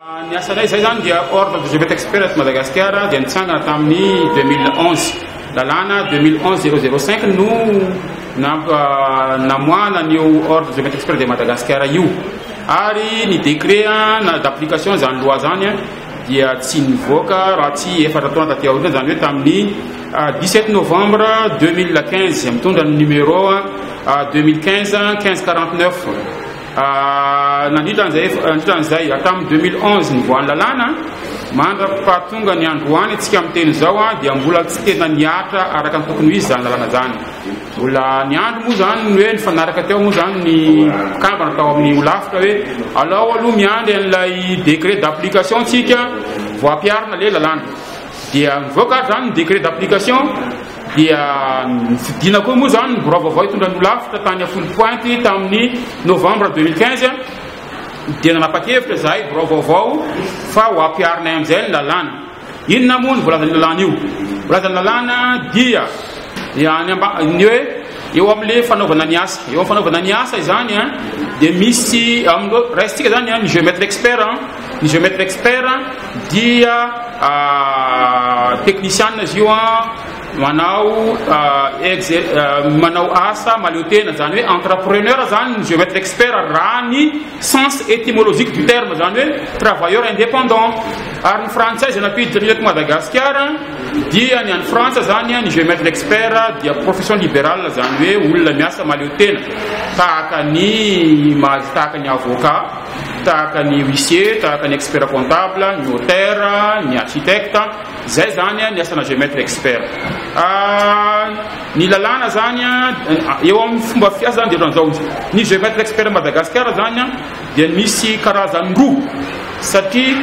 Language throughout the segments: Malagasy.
Ny asanay izay izany dia Ordre des Evêques Experts eto Madagasikara dia nitsangana tamin'ny 2011. Lalàna 2011-005 no namp- ah, namoahana an'io Ordre des Evêques Experts de Madagasikara io. Ary ny décret ah, na d'application izany loi izany ah, dia tsy nivoaka raha tsy efatra taona taty aoriana, izany hoe tamin'ny ah, 17 novembre 2015, mitondra ny numéro ah, 2015 1549. Nandritra an'izay, hatramin'ny deux mille onze nivoahan'ny lalàna, mandra-pahatonga ny androany antsika miteny izao dia mbola tsy tena nihatra araka ny tokony ho izy izany lalàna izany. Mbola niandry moa izany ny hoe nifanaraka teo moa izany ny mpikambana tao amin'ny Holafitra hoe alao aloha miandry an'ilay décret d'application antsika vao ampiharina ilay lalàna. Dia nivoaka ary izany ny décret d'application. dia nifidina koa moa izany ny birao vaovao hitondra ny holafitra tany Afolo Pointe tamin'ny novambra 2015 dia nanapa-kevitra izahay birao vaovao fa ho ampiharinay amin'izay ny lalàna. Inona moa ny voalazan'io lalàna io? Voalazan'ny lalàna dia ny amba ny hoe eo amin'le fanaovana ny asa. Eo amin'ny fanaovana ny asa izany dia misy amin'ny raisintsika izany ny géomètre expert ny géomètre expert dia teknisianina izy io a manao manao asa maleo tena zany hoe entrepreneur zany ny géomètre expert raha ny sens étymologique du terme zany hoe travailleur indépendant ary ny frantsay zay nampiditra ny eto madagasikara dia ny any frantsa zany ny géomètre expert dia profession libérale zany hoe olona miasa maleo tena tahaka ny mahazo tahaka ny avocat tahaka ny huissier, tahaka ny expert comptable, ny notaire, ny architecte, zay zany ny asana géomètre expert. Ah, ny lalàna zany eo amin'ny fomba fiasa zany dia ohatran'izao izy. Ny géomètre expert Madagasikara zany dia misy karazany roa satria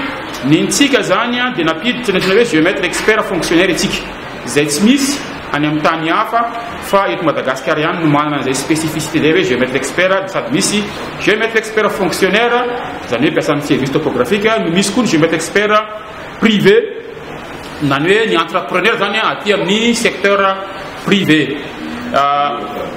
ny ntsika zany dia nampiditra ny antsoina hoe géomètre expert fonctionnaire itsika. Izay tsy misy any amin'ny tany hafa fa eto Madagasikara ihany no manana an'izay spécificité izay hoe géomètre expert dia sady misy géomètre expert fonctionnaire izany hoe mpiasan'ny service topographique no misy koa ny géomètre expert privé nany hoe ny entrepreneur izany aty amin'ny secteur privé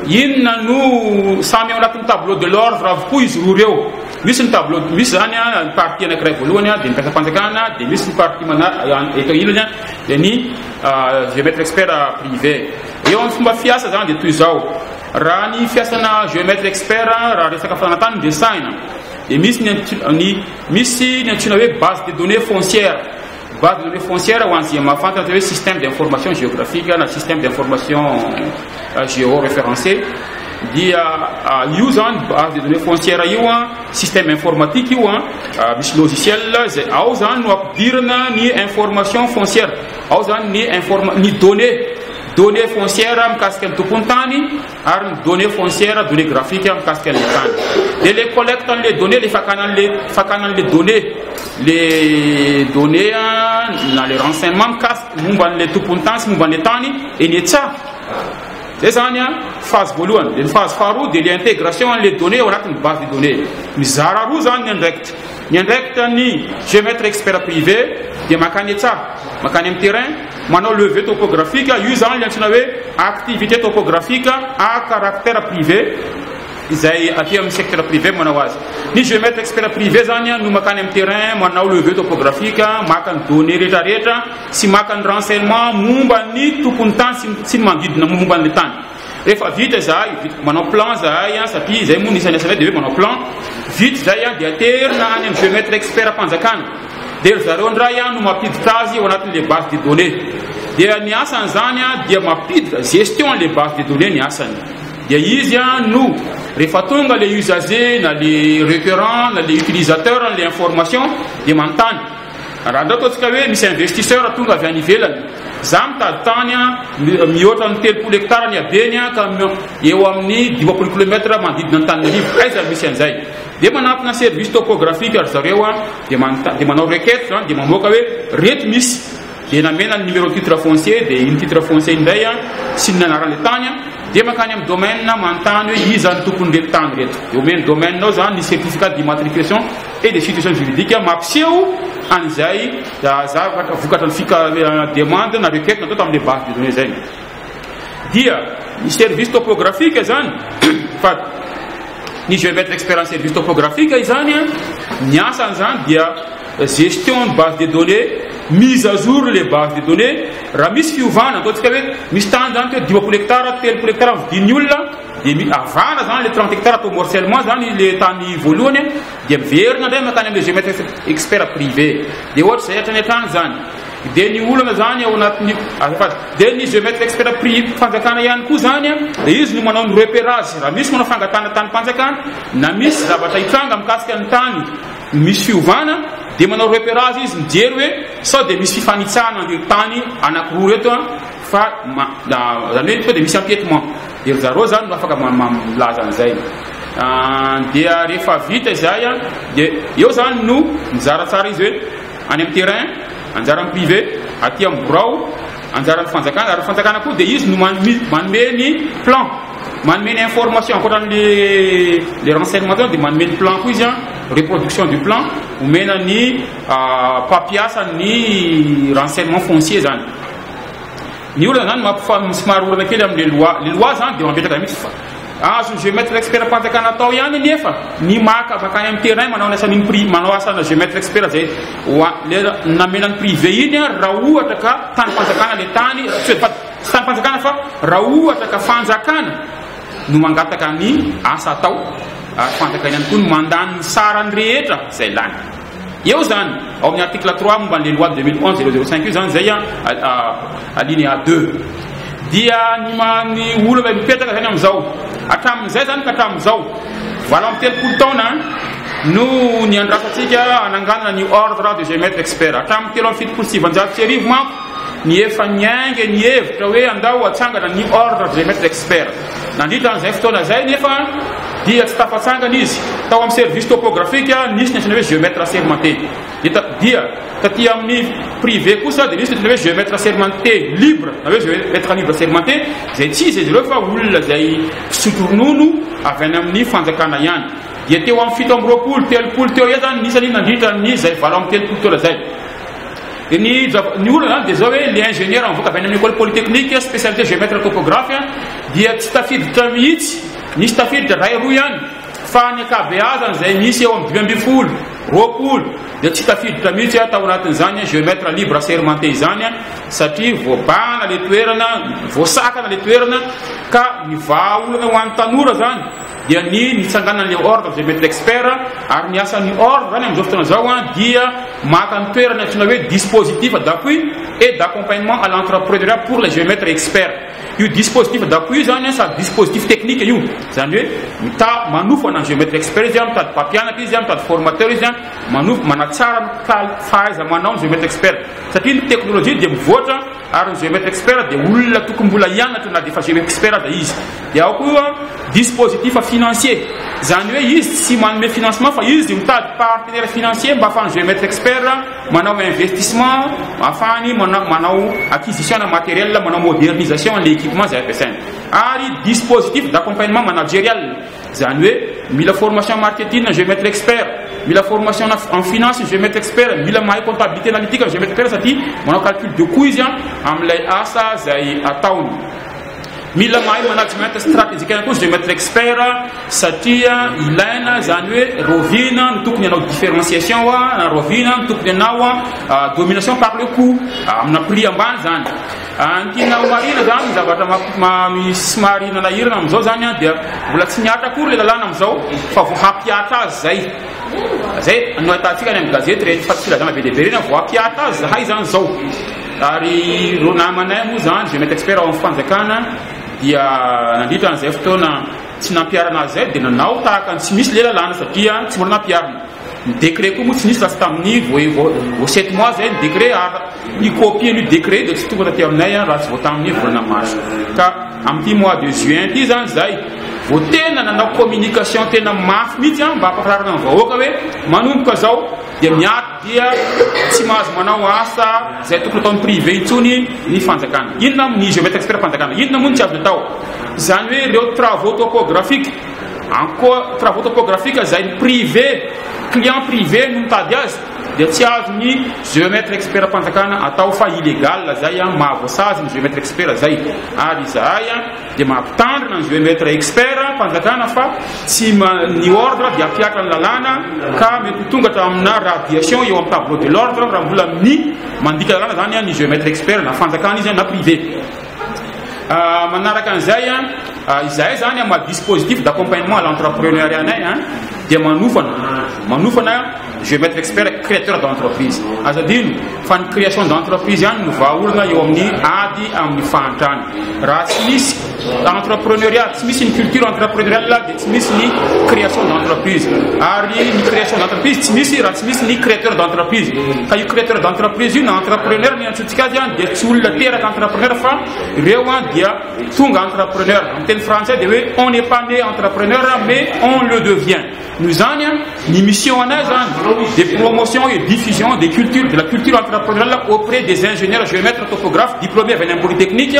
inona no samy ao anatin'ny tableau de l'ordre avokoa izy roa ireo misy ny tableau misy izany ny partie anankiray voalohany dia ny mpiasam-panjakana dia misy ny partie mana eto ilany dia ny géomètre expert privé. Eo amin'ny fomba fiasa izany dia toy izao, raha ny fiasana géomètre expert raha resaka fananantany no resahina dia misy ny ny misy ny antsoina hoe base de données foncière, base de données foncière ho an'izay mahafantatra hoe système d'information géographique na système d'information Géoréférencé, dia io zany base de données foncière io an, système informatique io an, misy logiciel izay ao zany no ampidirana ny information foncière, ao zany ny informa ny données données foncières mikasika ny tompontany ary ny données foncières données graphiques mikasika ny tany. Dia le collecte an'le données le fakana an'le fakana an'le données le données na le renseignement mikasika momba an'le tompontany sy momba an'le tany Eny e tsa! Zay zany an, phase voalohany. Dia ny phase faharoa dia le intégration an'le donnée ao anatin'ny base de donnée. Mizara roa zany ny andraikitra. Ny andraikitan'ny géomètre expert privé dia makany e tsa! Makany amin'ny terrain, manao levée topographique, io zany le antsoina hoe activité topographique à caractère privé, izay aty amin'ny secteur privé manao azy. Ny géomètre expert privé zany an no makany amin'ny terrain, manao levée topographique, maka ny donnée rehetrarehetra, Tsy maka ny renseignement momba ny tompon'ny tany sy ny sy ny manodidina momba an'ilay tany. Rehefa vita izahay, vita, manao plan izahay an, satria izay moa ny isan'ny asanay dia hoe manao plan. Vita izay an, dia aterina any amin'ny géomètre expert-mpanjakana. Dia ry zareo indray an no mampiditra azy ao anatin'ilay base de données. Dia ny asan'izany an dia mampiditra, gestion an'ilay base de données ny asany. Dia izy an no, rehefa tonga ilay usager na ilay requérant na ilay utilisateur an'ilay information dia manontany. Raha ndao ataontsika hoe misy investisseur tonga avy any ivelany, za mitady tany mihoatra ny telopolo hectare ny habeny ka eo amin'ny dimampolo kilomètre manodidina an'Antananarivo, aiza no misy an'izay? Dia manatona service topographique ry zareo dia manao requête zany dia mamoaka hoe reto misy. Dia namela ny numéro titre foncier dia iny titre foncier iny indray an, sy ny anaran'ilay tany an, dia mankany amin'ny domaine manontany hoe iza no tompon'ireto tany ireto. Dia omeny domaine ao izany ny certificat d'immatriculation et de situation juridique mampiseho an'izay zavatra vokatran'ny fika- demande na requête natao tamin'ilay base de données izay. dia ny service topographique izany fa ny je vais être expert en service topographique izany a ny asany izany dia gestion ny base de données mise à jour le base de données raha misy fiovana ataontsika hoe misy tany izany teo dimampolo hectare telopolo hectare vidin'ny olona dia mi- avana izany le trente hectare atao morcellement izany le tany voalohany dia miverina indray makany amin'le je vais être expert privé dia ohatra izay hatrany hatrany izany Dia ny olana izany ao anatin'ny azafady. Dia ny géomètre expert pri- fanjakana ihany koa izany a, dia izy no manao ny repérage raha misy manao fangatahana tanim-panjakana na misy zavatra hitranga mikasika ny tany misy fiovana dia manao repérage izy mijery hoe sao dia misy fifanitsahana an'ireo tany anankiroa ireto a fa ma- da- izany hoe sao dia misy empiètement dia ry zareo izany no afaka ma- ma- milaza an'izay Ah, dia rehefa vita izay a dia eo izany no mizaratsara izy hoe Any amin'ny terrain, anjaran'ny privé, aty amin'ny birao, anjaran'ny fanjakana, ary ny fanjakana koa dia izy no manome ny plan, manome ny information, ankoatra ny le renseignement tao dia manome ny plan koa izy an, reproduction du plan, omena ny ah, mpampiasa ny renseignement foncier zany. Ny olana zany mampifa somary olana kely amle loi le loi zany de mametraka mitsy fa azony geometre expert panjakana atao ihany nefa ny maka makany am terrain manao ny asaniny pri manao asana geometre expert zay wa le namela ny prive iny ary ra ohatra ka tany panjakana le tany tsy hoe tsy tany panjakana fa ra ohatra ka fanjakana no mangataka ny asa atao ary fanjakana ihany koa no mandany ny sarany rehetra zay lany Eo izany, ao amin'ny article trois momba an'ilay loi deux mille onze zéro zéro cinq io izany izay alinéa deux. Dia ny man'ny olona mipetraka izany amin'izao, hatramin'izay izany ka hatramin'izao, valo amby telopolo taona no ny andrasantsika ananganana ny ordre de géomètre expert. Hatramin'ny telo amby fitopolo sy sivanjato sy arivo manko, ny efa niainga ny hevitra hoe andao atsangana ny ordre de géomètre expert. Nandritra an'izay fotoana izay anefa dia tsy tafatsangana izy. Tao amin'ny service topographique nisy ny antsoina hoe geomètre assermenté. Dia taty amin'ny privé kosa dia nisy ny antsoina hoe geomètre assermenté libre na hoe geomètre libre assermenté izay tsy iza izy ireo fa olona izay mpisotro ronono avy any amin'ny fanjakana ihany. Dia teo amin'ny fito amby roapolo, telopolo teo eo izany ny isany nandritra ny izay valo amby telopolo taona izay. Dia ny jab- ny olana zany dia zao hoe le ingénieur mivoaka avy any amin'ny école polytechnique a, spécialité géomètre topographe a, dia tsy tafiditra mihitsy, misy tafiditra iray roa ihany, fa ny ankabeazany izay misy eo amin'ny dimy ambin'ny folo, roapolo dia tsy tafiditra mihitsy a, tao anatin'izany géomètre libre assermenté izany a, satria voabahana le toerana, voasakana le toerana, ka ny vahaolana ho an'ny tanora zany, dia ny nitsanganan'ilay ordre des maîtres experts, ary ny asan'ny ordre zany amin'izao fotoana izao an, dia maka ny toerana antsoina hoe dispositif d'appui et d'accompagnement à l'entrepreneuriat pour les géomètres experts. Io dispositif d'appui io zany an, sady dispositif technique io, zany hoe mita, manofana ny géomètre expert izy an, mitady mpampianatra izy an, mitady formateur izy an, manofa, manatsara ny kal, fahaiza-manao ny géomètre expert, satria ny technologie dia mivoatra, Ary ny GEF Expert dia olona tokony mbola hianatra na dia efa GEF Expert aza izy. Dia ao koa dispositif financier, izany hoe izy tsy manome financement fa izy mitady partenaire financier mba ahafahan'ny GEF Expert manao investissement, ahafahany manao manao acquisition na matériel, manao modernisation an'ilay équipement izay ampiasainy. Ary dispositif d'accompagnement managerial. Izany hoe mila formation marketing ny Géomètre expert, mila formation en finance ny Géomètre expert, mila mahay comptabilité analytique ny Géomètre expert satria manao calcul de coût izy an amin'ilay asa izay ataony. Mila mahay management stratégique ihany koa ny Géomètre expert satria ilaina izany hoe rovina no tokony hanao différenciation na rovina no tokony hanao domination par le coût amina prix ambany izany. Ankiana ho marina izany ny zavatra somary nanahirana amin'izao izany an, dia mbola tsy mihatra akory ilay lalàna amin'izao fa vao hampihatra azy izay. Izay no ahitantsika any amin'ny gazety rehetra fa filazana be dia be ireny an, vao hampihatra azy izahay izany izao. Ary ireo namanay moa izany, izay mety expert ao amin'ny fanjakana dia nandritra an'izay fotoana tsy nampiharana azy izay dia nanao tahaka ny tsy misy ilay lalàna satria tsy mbola nampiharina. Ny décret koa moa tsy nisy lasa tamin'ny vao sept mois zay ny décret ary ny copie an'io décret io dia tsy tonga taty aminay an raha tsy vao tamin'ny volana mars. Ka amin'ity mois de juin ity izany izahay vao tena nanao communication tena mafy mihitsy an mba hampahafantarana ny vahoaka hoe manomboka izao dia miato dia tsy mahazo manao asa izay tokony ataon'ny privé intsony ny fanjakana. Inona ny je vais extraire fanjakana inona moa ny tsy azo atao? Izany hoe ireo travaux topographiques Any koa travaux topographiques izay ny privé, client privé no mitady azy dia tsy azo ny géomètre expert-mpanjakana atao fa illégal izay an, mahavoasazy ny géomètre expert izay. Ary izahay an dia mampitandrina ny géomètre expert-mpanjakana fa tsy ma, ny ordre dia hampihatra ny lalàna ka mety ho tonga hatraminà radiation eo amin'ny tableau de l'ordre raha mbola mi, mandika lalàna izany an ny géomètre expert na fanjakana izy an na privé. Manaraka an'izay, izahay izany amin'ny maha dispositif d'accompagnement à l'entrepreneuriat anay dia manofana, manofana je vais mettre expert créateur d'entreprise. Aza adino fa ny création d'entreprise ihany no vahaolana eo amin'ny ady amin'ny fahantrana. Raha tsy misy entrepreneuriat, tsy misy ny culture entrepreneuriale dia tsy misy ny création d'entreprise. Ary ny création d'entreprise tsy misy raha tsy misy ny créateur d'entreprise. Ka io créateur d'entreprise io na entrepreneur ny antsoina Tikady an dia tsy olona teraka entrepreneur fa ireo an dia tonga entrepreneur. Amin'ny teny frantsay dia hoe on n'est pas né entrepreneur mais on le devient. Noho izany an ny mission anay zany dia promotion et diffusion des cultures de la culture entrepreneuriale auprès des ingénieurs géomètres topographes diplômés avy any amin'ny polytechnique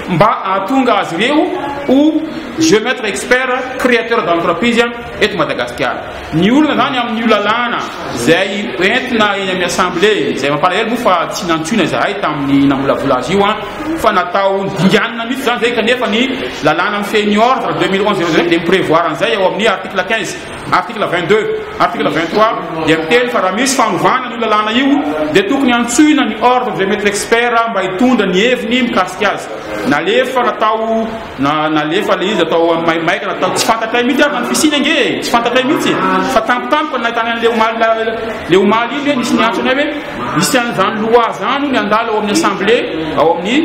mba hahatonga azy ireo ho géomètres experts créateurs d'entreprise eto Madagasikara. Ny olana zany amin' io lalàna izay entina eny amin'ny Assemblé, izay mampalahelo moa fa tsy nantsoina izahay tamin'ny namolavola azy io an, fa natao dinganina mihitsy izany izay kanefa ny lalàna mifehy ny ordre deux mille onze zéro zéro dia mi-prevoir an'izay ao amin'ny article quinze, article vingt deux, article vingt trois dia miteny fa raha misy fanovana an'io lalàna io dia tokony hantsoina ny ordre des maîtres experts mba hitondra ny heviny mikasika azy. Nalefa natao. Na nalefa ilay izy atao amin'ny maimaika na atao tsy fantatray mihitsy ary na ny fisiany ange e, tsy fantatray mihitsy e. Fa tampotampoka no nahitana an'ilay omaly la- ilay omaly iny hoe nisy niantso anay hoe misy an'izany loi izany hono handalo ao amin'ny assemblée ao amin'ny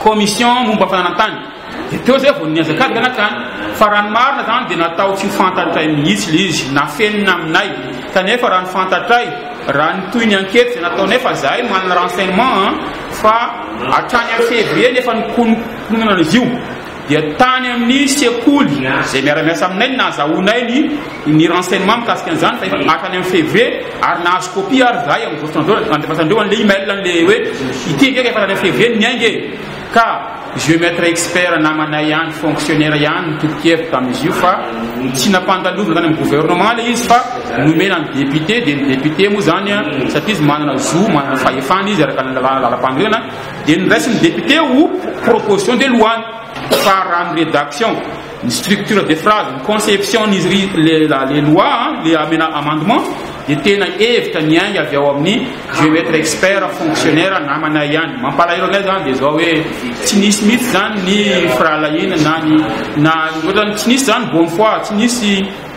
commission momba ny fananan-tany. Dia teo izay vao nihazakazaka ny hatrany. Fa raha ny marina izany dia natao tsy ho fantatray mihitsy ilay izy, nafenina aminay. Kanefa raha ny fantatray, raha ny tohin'ny enquête izay nataonay fa izahay manana renseignement an, fa hatrany amin'ny février no efa nikono, Mpiomanana izy io dia tany amin'ny sekoly izay miara-miasa aminay ny nahazahoanay ny ny renseignement mikasika an'izany fa efa hatrany amin'ny février ary nahazo copie ary zahay amin'izao fotoana izao nandefasandreo an'ilay email an'ilay hoe ity ve ka efa hatrany amin'ny février ny miainga e ka géomètre expert namanay ihany fonctionnaire ihany nitolokevitra tamin'izy io fa tsy nampandalovina tany amin'ny gouvernement ilay izy fa nomena ny député dia ny député moa izany satria izy manana zo manana fahefana izy araka ny lalàna lalam-panorenana Dia noraisin'ny député ho proposition de loi fa raha ny rédaction, ny structure de phrase, ny conception-n'izy ry le la le loi le amena amendement dia tena hevitra niainga avy ao amin'ny je veux être expert fonctionnaire namanay ihany. Mampalahelo anay izany dia izao hoe tsy nisy mihitsy izany ny firahalahiana na ny na ohatrany tsy nisy izany bonne foi, tsy nisy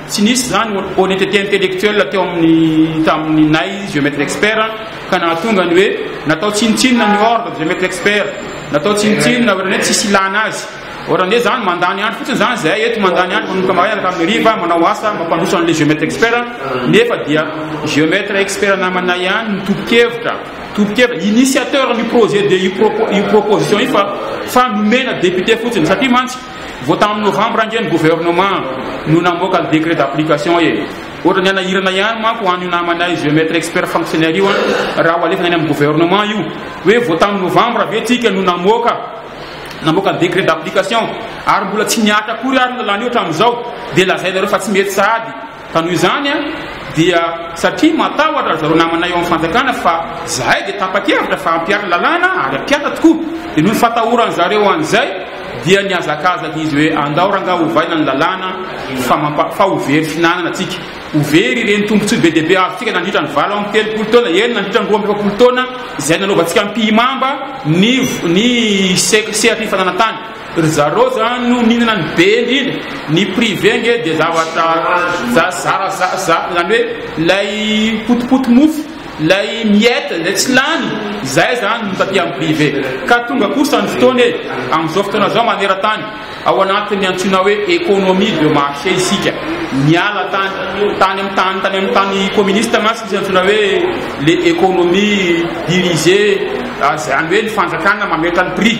Tsy nisy izany honnêteté intellectuelle teo amin'ny tamin'ny nay vieux maître expert ka nahatonga ny hoe natao tsinontsinona ny ordre vieux maître expert, natao tsinontsinona ohatran'ny hoe tsisy ilana azy. Ohatra an'izay izany mandany andro fotsiny izany izahay eto, mandany andro manomboka maraina ka hatramin'ny hariva manao asa mampandroso an'ilay vieux maître expert nefa dia vieux maître expert namanay ihany no tompo-kevitra, tompo-kevitra, initiateur-n'io projet de io proposition io fa fa nomena député fotsiny satria mantsy Vao tamin'ny novambra ange ny gouvernement no namoaka ny décret d'application e. Ohatran'ny hanahirana ihany manko ho an'io namanay géomètre expert fonctionnaire io an, raha ho alefana any amin'ny gouvernement io. Hoe vao tamin'ny novambra ve tsika no namoaka namoaka ny décret d'application ary mbola tsy nihatra akory ary ny lalàna io hatramin'izao dia lazainareo fa tsy mety sahady. Ka noho izany dia satria matahotra ry zareo namanay eo amin'ny fanjakana fa izahay dia tapa-kevitra fa hampiaro ny lalàna ary hampiasa tokoa. Dia noho ny fatahoran'ny zareo an'izay dia nihazakazaka izy hoe andao rangaha ovaina ny lalàna fa mampa, fa ho very fihinanana tsika. Ho very ireny tombontsoa be dia be azontsika nandritra ny valo amby telopolo taona, eny nandritra ny roa amby efapolo taona izay nanaovantsika ampihimamba ny, ny se, sehatry ny fananantany. Ry zareo zany no mihinana ny be indrindra, ny privé nge dia zavatra zara zany hoe lay potipoty mofo, lay miette zay tsy lany, zay zany no taty amin'ny privé. Ka tonga kosa ny fotoana e, amin'izao fotoana zao maneran-tany, ao anatin'ny antsoina hoe économie de marché isika, miala tany tany amin'ny tany tany amin'ny tany communiste mantsy misy antsoina hoe le économie dirigée, zany hoe ny fanjakana mametra ny prix.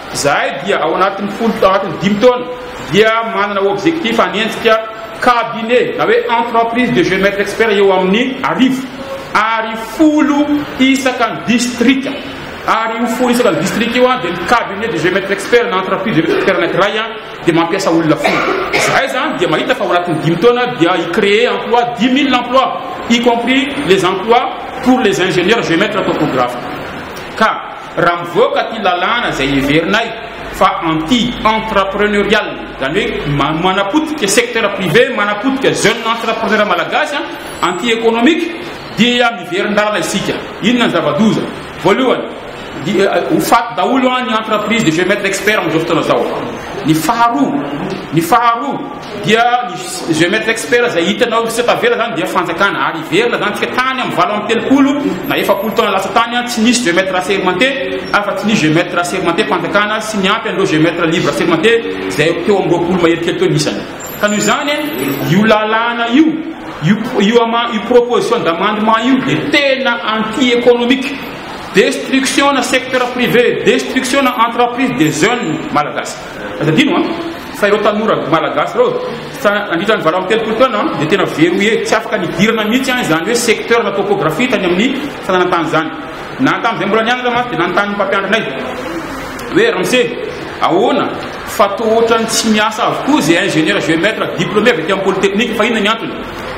Izahay dia ao anatin'ny folo tao anatin'ny dimy taona dia manana objectif hanenjika cabinet na hoe entreprise de géomètre expert eo amin'ny arivo ary folo isaka ny distrika ary io folo isaka ny distrika io dia ny cabinet de géomètre expert na entreprise de géomètre expert anankiray an dia mampiasa olona folo izahay izany dia mahita fa ao anatin'ny dimy taona dia hicréer emploi dix mille emploi y compris les emplois pour les ingénieurs géomètres topographes ka Raha mivoaka ity lalàna izay heverinay fa anti entrepreneurial, izany hoe manapotika secteur privé, manapotika jeune entrepreneur malagasy, anti économique, dia miverin-dalana isika. Inona ny zava-doza? Voalohany, dia ho faty daholo ny entreprise de géomètre expert amin'izao fotoana izao. Ny faharoa, ny faharoa, dia ny géomètre expert izay hitanao sy tavela zany dia fanjakana ary hiverina zany tsika tany amin'ny valo amby telopolo na efapolo taona lasa tany tsy nisy géomètre assermenté afa tsy nisy géomètre assermenté fanjakana sy ny ampy an'ireo géomètre libre assermenté izay teo amin'ny roapolo mahery kely teo nisany ka noho izany io lalàna io io io ama io proposition d'amendement io dia tena anti économique destruction na secteur privé destruction na entreprise des jeunes malagasy Aza adino an! fa ireo tanora malagasy ireo fa nandritra ny valo amby telopolo taona dia tena verrouillé, tsy afaka nidirana mihitsy an izany hoe secteur na topographie tany amin'ny fananan-tany izany. Na tamin'izay mbola nianatra mantsy dia nanontany ny mpampianatra anay hoe ramose ahoana fa toa ohatran'ny tsy miasa avokoa izay ingénieur géomètre diplômé avy aty amin'ny polytechnique fa inona ny antony?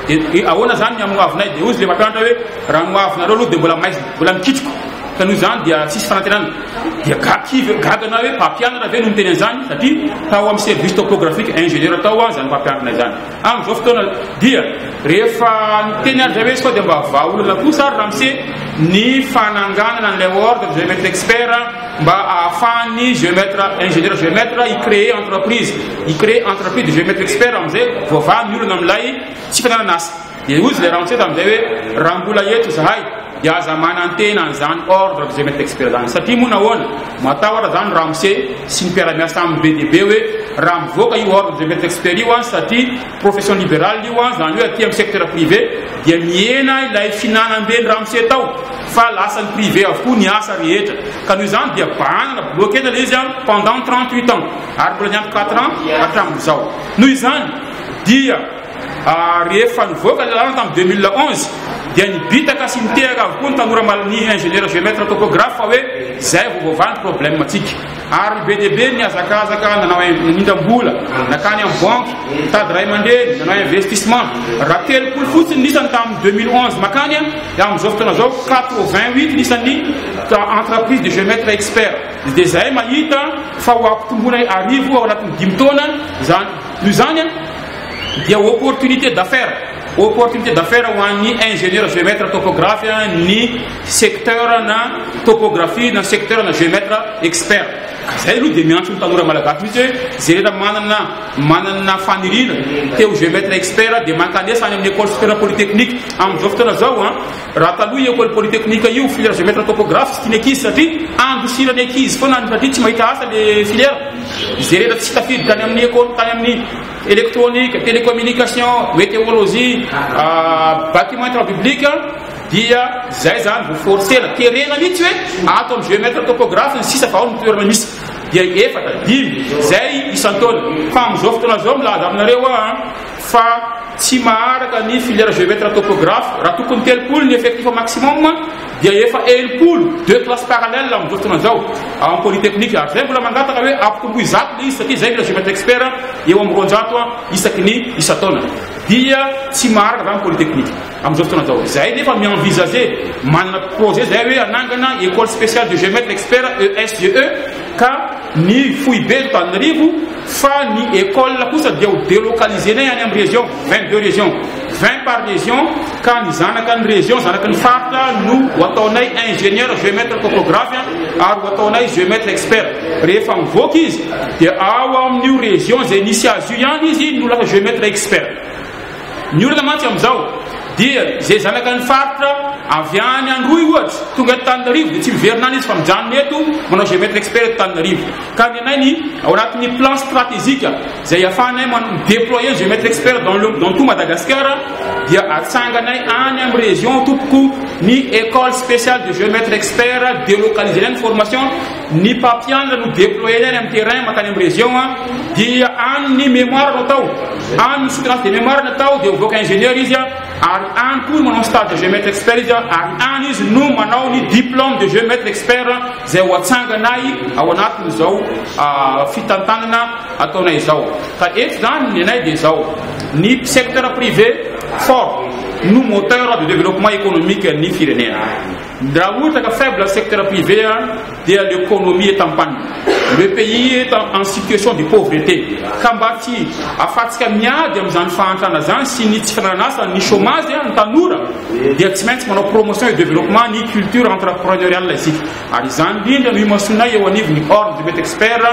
Dia ahoana izany ny amin'ny hoavinay? Dia hoy ilay mpampianatra hoe raha ny hoavinareo aloha dia mbola maizina, mbola mikitroka ka noho izany dia tsisy fanantenana. dia ga kivy gaga na hoe mpampianatra ve no miteny an'izany satria tao amin'ny service topographique ingénieur tao aho izany mpampianatra izany amin'izao fotoana dia rehefa niteny ary zavesy fa dia mba vahaolana kosa ary ramse ny fananganana an'ilay ordre géomètre expert mba ahafahan'ny géomètre ingénieur géomètre i créer entreprise i créer entreprise de géomètre expert amin'izay voavaha ny olana amin'ilay tsy fananana asa Dia hozy ilay ramose tamin'izay hoe, raha mbola eto izahay dia aza manantena an'izany ordre de jamais expire izany. Satria moa nahoana? Matahotra izany ramose sy ny mpiara-miasa aminy be dia be hoe, raha mivoaka io ordre de jamais expire io an, satria profession liberale io an, izany hoe aty amin'ny secteur privé, dia mihena ilay fihinanam-ben'ny ramose tao, fa lasan'ny privé avokoa ny asa rehetra. Ka noho izany dia bahanana, bloquena ilay izy an, pendant trente-huit ans, ary mbola niampy quatre ans hatramin'izao. Noho izany dia. Rehefa nivoaka ny lalàna tamin'ny deux mille onze dia nibitaka sy nitehaka avokoa ny tanora mal ny ingénieur géomètre topographe fa hoe izay vao voavaha ny problème ntsika ary be dia be ny hazakazaka nanao nindram-bola nakany amin'ny banque mitady ray aman-dreny nanao investissement raha telopolo fotsiny ny isany tamin'ny deux mille onze makany amin'izao fotoana izao quatre vingt huit ny isan'ny entreprise de géomètre expert dia izay mahita fa ho ampitomboina arivo ao anatin'ny dimy taona izany noho izany dia opportunité d'affaires opportunité d'affaires ho an'ny ingénieur géomètre topographe ny secteur na topographie na secteur na géomètre expert zay aloha dia miantso ny tanora malagasy mihitsy hoe zay rehetra manana manana faniriana te ho géomètre expert dia mankanesa any amin'ny école supérieure polytechnique amin'izao fotoana zao a Raha taloha io école polytechnique io filière géomètre topographe tsy tian'ny ankizy satria andosiran'ny ankizy foana any satria tsy mahita asa le filière. Izay rehetra tsy tafiditra any amin'ny école tany amin'ny électronique, télécommunication, météologie, ah, bâtiment travaux publics dia zay zany vao forcena terena mihitsy hoe ato amin'ny géomètre topographe ny sisa fa ao ny toerana misy dia efatra dimy zay isan-taona fa amin'izao fotoana zao milaza aminareo aho fa tsy maharaka ny filière géomètre topographe, raha tokony telopolo ny effectif maximum dia efa enimpolo, deux classes parallèles amin'izao fotoana izao ao amin'ny polytechnique, ary izay mbola mangataka hoe ampitomboy zato ilay izy satria izay mila géomètre expert eo amin'ny roanjato isaky ny isan-taona dia tsy maharaka izany ny polytechnique amin'izao fotoana izao. Izahay nefa mi-envisager, manana projet izahay hoe hanangana école spéciale de géomètre expert, ESGE, ka ny foibe Antananarivo fa ny école kosa dia ho délocaliser-nay any amin'ny région, vingt deux régions, vingt par région ka ny zanaka ny région, zanaky ny faritra no ho ataonay ingénieur géomètre topographe ary ho ataonay géomètre expert. Rehefa mivoaka izy dia ao amin'io région izay nisy azy io ihany izy no lasa géomètre expert. Ny olona mantsy amin'izao dia izay zanakan'ny faritra avy any Androy ohatra, tonga eto Tananarivo dia tsy miverina any izy fa mijanona eto manao géomètre expert eto Tananarivo. Ka ny anay ny ao anatin'ny plan stratégique izay ahafahanay mi-déployer ny géomètre expert dans le, dans tout Madagascar dia atsanganay any amin'ny région tompoko ny école spéciale de géomètre expert, delocaliser-nay ny formation, Ny mpampianatra no deployena any amin'ny terrain mankany amin'ny région an, dia any ny mémoire no atao, any ny soutenance de mémoire no atao, dia mivoaka ingénieur izy an, ary any koa no manao ny stage de géomètre expert izy an, ary any izy no manao ny diplôme de géomètre expert izay ho atsanganay ao anatin'izao fitantanana ataonay izao. Ka eto izany ny anay dia izao, ny secteur privé fort no moteur de développement économique ny firenena. Ndra ohatra ka faible secteur privé a dia l'economie est en panne, le pays est en situation de pauvrete ka mba tsy afatsika miady amin'izany fahantrana zany sy ny tsy fananan'asa, ny chômage a, ny tanora dia tsy maintsy manao promotion et développement ny culture entrepreneuriale isika ary izany indrindra no imasoanay eo anivon'ny Ordre du Mety Expert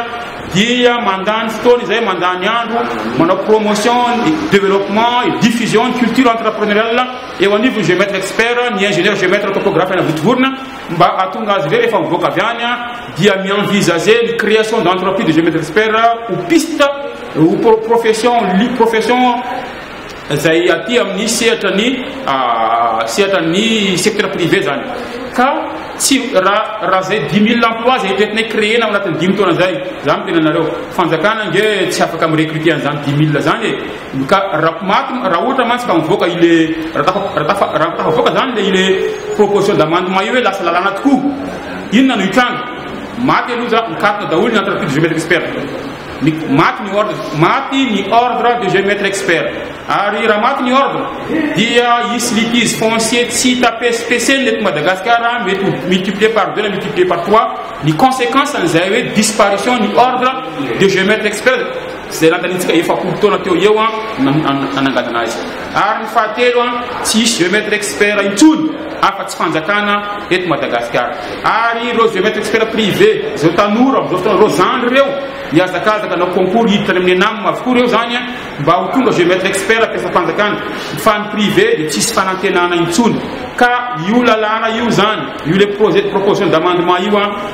dia mandany fotoana izay mandany andro manao promotion et développement et diffusion ny culture entrepreneuriale Eo anivon'ny Géomètre Expert ny Ingénieur Géomètre Topographe any Vontovorona mba hahatonga azy ireo rehefa mivoaka avy any dia mi-envisager ny création d'entreprise de Géomètre Expert ho piste ho pro- profession li- profession izay aty amin'ny sehatra ny ah, sehatra ny secteur privé zany ka tsy raha raha zay 10 000 emploi zay eritreretinay créer-na ao anatin'ny dimy taona zay za miteny anareo fanjakana nge tsy afaka mi-recruter an'izany 10 000 zany e Ka ra maty ra ohatra mantsy ka mivoaka ile ra tafa ra tafa ra tafavoaka zany le ile proposition d'amendement io hoe lasa lalàna tokoa inona no hitranga maty aloha za mikatona daholo ny entreprise de géomètre expert ny maty ny ordre maty ny ordre de géomètre expert ary raha maty ny ordre dia hisy litige foncier tsy hita pesipeseny lety Madagascar mety multiplier par deux na multiplier par trois ny conséquence an'izay hoe disparition ny ordre de géomètre expert izay nandaniantsika efapolo taona teo ho eo no nananganana azy, ary ny fahatelo, tsy hisy géomètre expert intsony afa tsy fanjakana eto Madagasikara, ary ireo géomètre expert privé, izao tanora amin'izao fotoana, ireo zandry ireo mihazakazaka hanao concours hiditra any amin'ny ENAM avokoa ireo izany mba ho tonga géomètre expert mpiasam-panjakana, fa ny privé dia tsy hisy fanantenana intsony, ka io lalàna io izany, io le projet de proposition d'amendement io,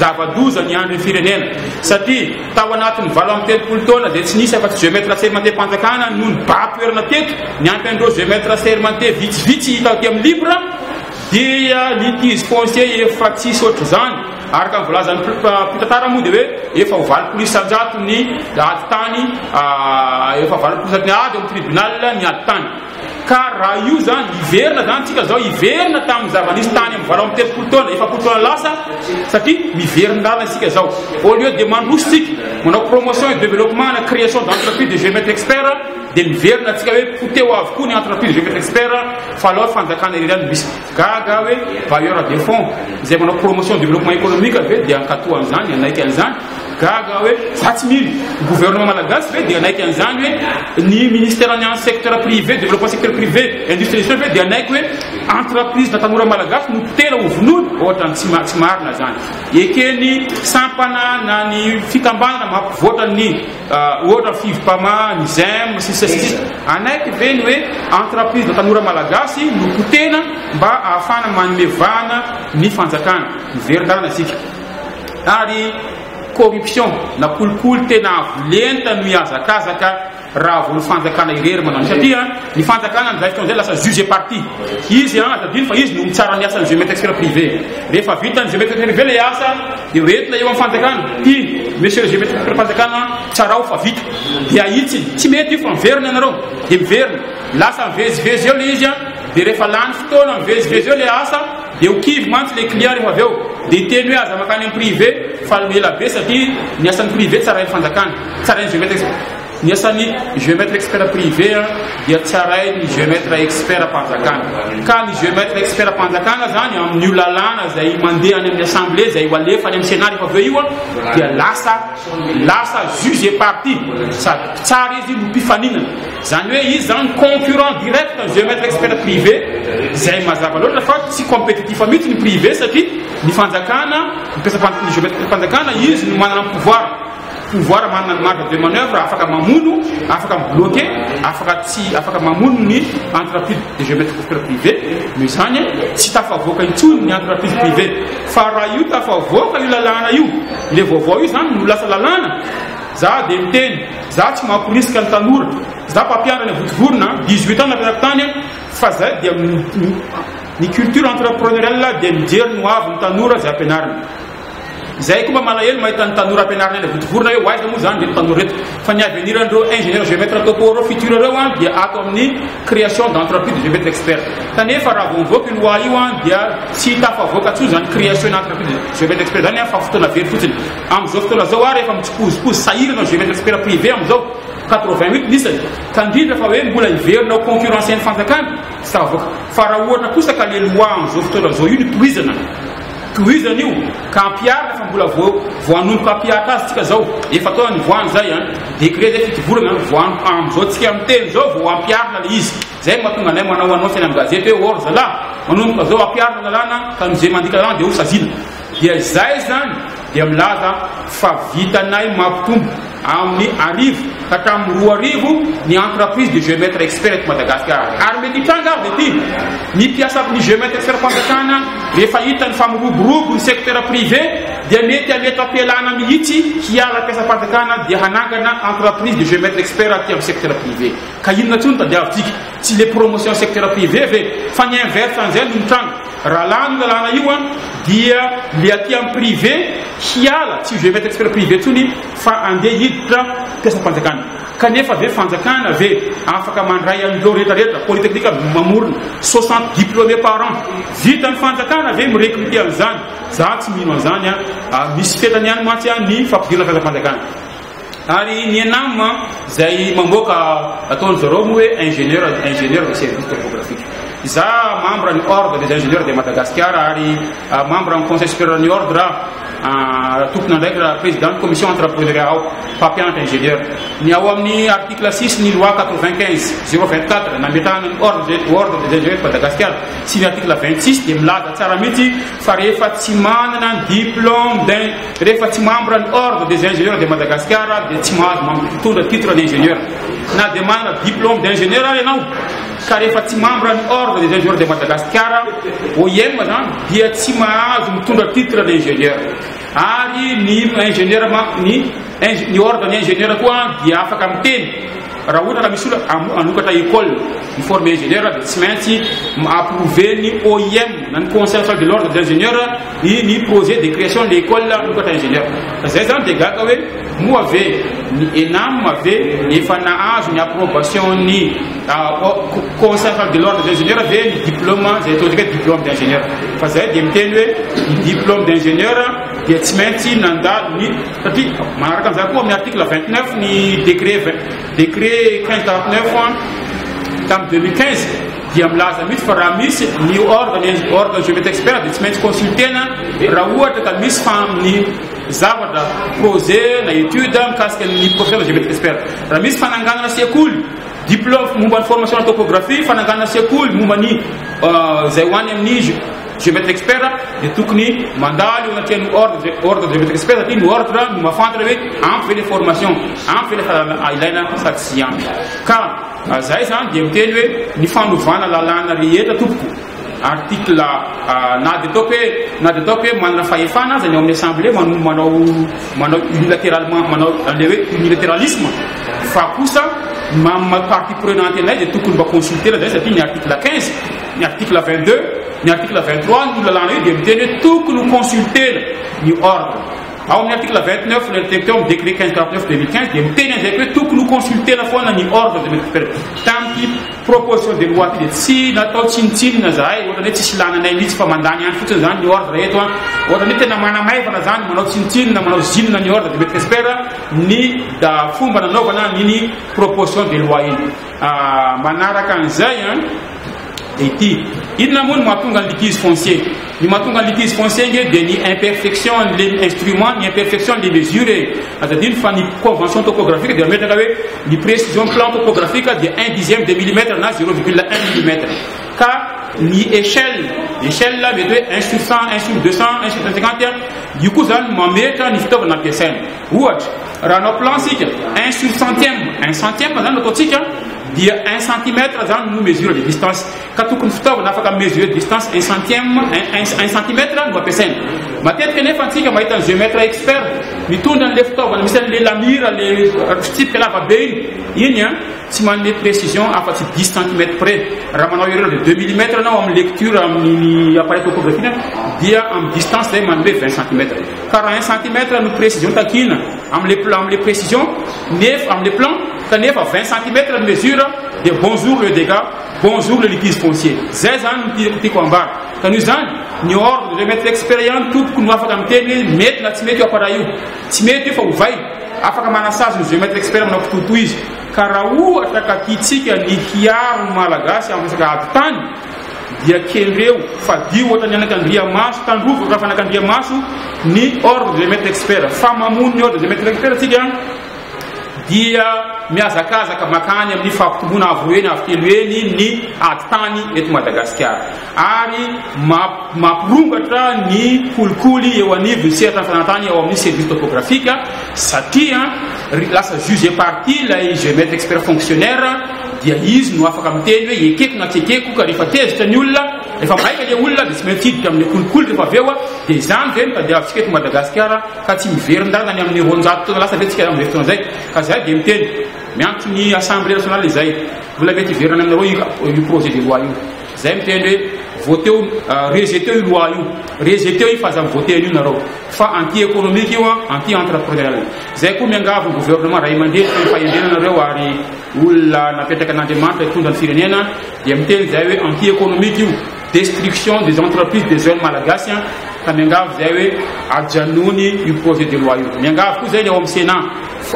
Zava-doza ny andrin'ny firenena satria tao anatin'ny valo amby telopolo taona izay tsy nisy afa-tsy jeux maîtres aserimanteam-panjakana no nibaha toerana teto, niampy an'ireo jeux maîtres aserimantea vitsivitsy hita aty amin'ny livre dia litige foncier efa tsisy ohatr'izany. Araka ny voalazan'ny mpitantara moa dia hoe efa ho valopolo isan-jato ny ady tany, efa valopolo isan-jato ny ady ao amin'ny tribunal ny ady tany. Ka raha io izany, hiverina izany isika izao, hiverina tamin'ny zava-nisy tany amin'ny valo amby telopolo taona, efapolo taona lasa, satria miverin-dalana isika izao. Au lieu dia mandroso isika, manao promotion et développement ana création d'entreprise de Géomètre Expert, dia miverina isika hoe poteho avokoa ny entreprise Géomètre Expert, fa aleo fanjakana irery ihany no misy. Gaga hoe bailleur de fonds izay manao promotion développement économique ve dia hankatoa an'izany, hanaiky an'izany? Gaga aho hoe za tsy mino. Ny gouvernement malagasy ve dia hanaiky an'izany hoe ny ministère-ny an'ny secteur privé, développement secteur privé, industrialisation ve dia hanaiky hoe entreprise-na tanora malagasy no potera ho vonoina? Ohatrany tsy ma- tsy marina zany. Eken'ny sampana na ny fikambanana mampivoatra ny ah, ohatra ny Fivpama, ny Zem, sy ny sisa sy ny sisa. Hanaiky ve ny hoe entreprise-na tanora malagasy no potena mba ahafahana manome vahana ny fanjakana? Miverin-dalana isika. Ary corruption na kolikoly tena avo lenta no hihazakazaka raha vao ny fanjakana irery manao an'io satria ny fanjakana amin'izay fotoana izay lasa juge et partie. Izy an, aza adino fa izy no mitsara ny asan'ny geometre privé. Rehefa vitan'ny geometre privé ilay asa dia entina eo amin'ny fanjakana, iny monsieur le geometre privé-mpanjakana an, tsarao fa vita. Dia ahitsiny, tsy mety io fa miverina ianareo. Dia miverina. Lasa mivezivezy eo ilay izy an, dia rehefa lany fotoana mivezivezy eo ilay asa, Dia ho kivy mantsy ilay client rehefa avy eo dia hiteny hoe aza mankany amin'ny privé fa aleo ela be satria ny asan'ny privé tsarain'ny fanjakana, tsarain'ny géomètre expert. Ny asan'ny géomètre expert privé dia tsarain'ny géomètre expert mpanjakana. Ka ny géomètre expert mpanjakana izany amin'io lalàna izay mandeha any amin'ny assemblée izay ho alefa any amin'ny sénat rehefa avy eo io dia lasa lasa juge et partie sady mpitsara izy no mpifaninana. Izany hoe izy izany concurrent direct ny géomètre expert privé izay mazava loatra fa tsy compétitif mihitsy ny privé satria ny fanjakana mpiasam-pan- ny géomètre-mpanjakana izy no manana ny pouvoir pouvoir manana ny marge de manoeuvre afaka mamono afaka mi-bloquer afaka tsy afaka mamono ny entreprise de géomètre expert privé noho izany tsy tafavoaka intsony ny entreprise privé fa raha io tafavoaka io lalàna io ilay vaovao io izany no lasa lalàna Za dia miteny, za tsy mamporisika ny tanora, za mpampianatra any Vontovorona, dix huit ans napetrako tany an, fa zay dia ny culture entrepreneuriale dia mijery ny hoavy ny tanora zay ampianarina. Zay koa mba malahelo mahita ny tanora ampianarina any Vontovorona hoe ho aiza moa zany reto tanora reto, fa ny avenir an'ireo ingénieur géomètre topo ireo futur ireo an dia ato amin'ny création d'entreprise de géomètre expert. Kanefa raha vao mivoaka io loi io an dia tsy tafavoaka intsony zany création d'entreprise de géomètre expert zany an fa fotoana very fotsiny. Amin'izao fotoana izao ary efa mitsipozipozy sahirana izay rehetra sphère privée amin'izao, quatre-vingt huit ny isany, ka indrindra fa hoe mbola hiverina ho concurrencer ny fanjakana? Tsy tafavoaka. Fa raha ohatra kosa ka le loi amin'izao fotoana izao io no tohizana, tohizana io, ka ampiharina fa mbola vao vao hanomboka hampihatra azy tsika izao, efa taona nivoahany izay an, décret izay fito volana an, vao an, amin'izao tsika miteny izao vao hampiharina le izy, izay no mahatonga anay manao annonce eny amin'ny gazety hoe or zalahy, manomboka izao hampiharina lalàna ka noho izay mandika lalàna dia ho saziana. Dia izay izany dia milaza fa vitanay mampitombo amin'ny arivo ka hatramin'ny roa arivo ny entreprise de Geomètre Expert eto Madagasikara. Ary mety hitranga avy ity, ny mpiasan'ny Geomètre Expert-Panjakana rehefa hitany fa miroborobo ny secteur privé dia mety hametra-pialana mihitsy hiala mpiasam-panjakana dia hanangana entreprise de Geomètre Expert aty amin'ny secteur privé. Ka inona intsony tadiavintsika? Tsy le promotion secteur privé ve? Fa ny inverse an'izay no mitranga. Raha lany io lalàna io an dia le aty am privé hiala tsy je vais expert privé tsony fa andeha hiditra mpiasam-panjakana kanefa ve fanjakana ve afaka mandray an'ireo rehetra rehetra polytechnique mamorona 60 diplômé par an vita ny fanjakana ve mirecruter an'izany za tsy mino an'izany an ary misy fetrany ihany mantsy an ny fampidirana mpiasam-panjakana Ary ny ENAM izay mamboaka ataon-dry zareo moa hoe ingénieur, ingénieur de service topographique. Izaho membre ny Ordre des ingénieurs de Madagascar ary ah, membre ny Conseil supérieur ny Ordre aho. Ah, tompon'andraikitra raha président ny commission entrepreneuriat aho, mpampianatra ingénieur. Ny ao amin'ny article 6 ny loi 95 024 nametrahana ny Ordre des Ordre des ingénieurs de Madagascar sy ny article 26 dia milaza tsara mihitsy fa rehefa tsy manana ny diplôme d'un Rehefa tsy membre ny ordre des ingénieurs de Madagascar dia tsy mahazo mampitondra titre d'ingénieur. Na dia manana diplôme d'ingénieur ary ianao ka rehefa tsy membre ny ordre des ingénieurs de Madagascar, OIM zany, dia tsy mahazo mitondra titre d'ingénieur. Ary ny ingénieur ma, ny, ny ordre ny ingénieur koa dia afaka miteny raha ohatra ka misy olona hanokatra école miformer ingénieur dia tsy maintsy approver ny OIM na ny conseil national de l'ordre des ingénieurs I ny projet de creation de l'école vokatra ingénieur fa zay zany de gaga hoe moa ve ny enam ve efa nahazo ny approbation ny conseil central de l'ordre des ingénieurs ve ny diplôme zay ataontsika hoe diplôme d'ingénieur fa zay de miteny hoe ny diplôme d'ingénieur dia tsy maintsy nandalo ny satria manaraka an'izany koa amin'ny article 29 ny décret décret 15 49 tamin'ny 2015 dia milaza mihitsy fa raha misy ny organe ny organe je met expert dia tsy maintsy consultena raha ohatra ka misy fa amin'ny zavatra projet na étude mikasika ny professionnel je met expert raha misy fananganana sekoly diplôme momba ny formation na topographie fananganana sekoly momba ny euh, izay ho any amin'ny je met expert dia tokony mandalo anatrehan'ny ordre ordre je met expert satria ny ordre no mahafantatra hoe ampy ve le formation ampy ve le fahalalana ilaina sady tsy ampy ka Zay izany dia miteny hoe ny fanovana lalàna rehetra tompoko, article na dia ataoko hoe na dia ataoko hoe manana fahefana aza ny ao amin'ny assemblée manao manao manao unilateralement manao an'ilay hoe unilateralisme fa kosa ny maha maha partie prenante anay dia tokony mba consulter-na izay satria ny article 15 ny article 22 ny article 23 ny lalàna io dia miteny hoe tokony ho consulter-na ny ordre Ao amin'ny article 29 ilay niteny teo amin'ny décret 1549-2015 dia miteny an'izay hoe tokony ho consulter-na foana ny ordre des médecins supérieurs. Tamin'ity proposition de loi ity dia tsy natao tsinontsinona izahay, ohatrany hoe tsisy ilàna anay mihitsy fa mandany andro fotsiny izany ny ordre eto an. Ohatrany hoe tena manamaivana izany, manao tsinontsinona, manao zinona ny ordre des médecins supérieurs ny fomba nanaovana an'iny proposition de loi iny. Manaraka an'izay an, dia ity, inona moa no mahatonga ny litige foncier? Ny mahatonga ny litige foncier ange dia ny imperfection an'ilay instrument, ny imperfection an'ilay mesure e. Aza adino fa ny convention topographique dia mametraka hoe ny précision plan topographique dia un dixième de millimètre na zéro virgule un millimètre. Ka ny échelle, échelle mety hoe un sur cent, un sur deux cent, un sur cent cinquante, io koa izany mametra ny fitaovana ampiasaina. Ohatra, raha hanao plan isika, un sur centième, un centième izany no ataontsika, dia un centimètre izany no mesure de distance. Ka tokony fitaovana afaka mi-mesurer distance un centième, un, un, un centimètre no ampiasaina. Matetika anefa antsika mahita ny géomètre expert mitondra an'ilay fitaovana misy an'ilay lamira, ilay fitsipika lava be iny. Iny an, tsy manome précision afa-tsy dix centimètres près. Raha manao erreur de deux millimètres ianao amin'ny lecture amin'ny appareil topographique dia amin'ny distance izay manome vingt centimètres. Quarante un centimètre no précision takiana amin'ilay plan amin'ilay précision nefa amin'ilay plan kanefa vingt centimètre ny mesure dia bonjour le dégât bonjour le litige foncier zay zany no tiako tiako ambara ka noho izany ny ordre de maître expert ihany tompoko no afaka miteny hoe mety na tsy mety io appareil io tsy mety io fa ovay afaka manasazy ny géomètre expert manao kitoto izy ka raha ohatra ka tiantsika ny hiaro ny malagasy amin'ny resaka ady tany dia kendreo fadio ohatran'ny anakandriamaso tandrovy raha fanakandriamaso ny ordre des maîtres experts fa mamono ny ordre des maîtres experts tsika dia mihazakazaka makany amin'ny fahapitomboana avo eny avo telo eny ny aditany eto Madagasikara ary mampirongatra ny kolikoly eo anivon'ny sehatra fanantany ao amin'ny service topographique satria lasa juge parti ilay géomètre expert fonctionnaire dia izy no afaka miteny hoe ekeko na tsy ekeko ka rehefa tezitra ny olona rehefa maika le olona dia tsy maintsy hiditra amin'ny kolikoly rehefa avy eo a dia izany ve no tadiavintsika eto Madagasikara ka tsy miverin-dàlana ny amin'ny roanjato taona lasa ve tsika amin'izay fotoana izay ka zay dia miteny miantso ny assemblée nationale izay mbola mety hiverina any aminareo io projet de loi io Zay miteny hoe voteo rejeteo io loi io rejeteo io fa aza mivote an'io nareo fa anti economique io an anti entrepreneurial zay koa miangavy ny gouvernement ray aman-dreny fa ny fahendrena nareo ary olona napetraka an'Andriamanitra hitondra ny firenena dia miteny zay hoe anti economique io destruction des entreprises des jeunes malagasy an ka miangavy zay hoe ajanony io projet de loi io miangavy koa zay ny ao amin'ny Sénat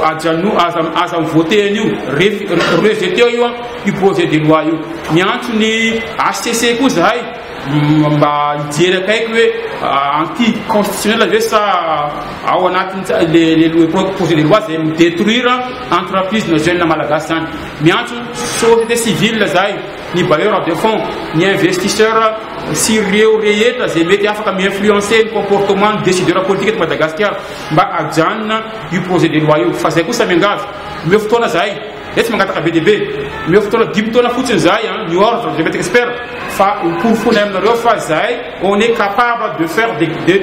Ajanony aza aza mivote an'io ref rejeter io an io projet de loi io. Miantso ny HCC koa zahay mba hijery akaiky hoe anti constitutionnel ve sa ao anatin'ny le le projet de loi zay mi detruire entreprise na jeune malagasy zany. Miantso société civile zahay, ny bailleur de fonds, ny investisseur sy ireo rehetra zay mety afaka mi influencer ny comportement ny decideur politique eto Madagasikara. mba ajanona io projet de loi io fa zay kosa miangavy omeo fotoana zahay zay tsy mangataka be dia be omeo fotoana dimy taona fotsiny zahay an ny ordre de maître expert fa hoporofonay aminareo fa zahay on est capable de faire des de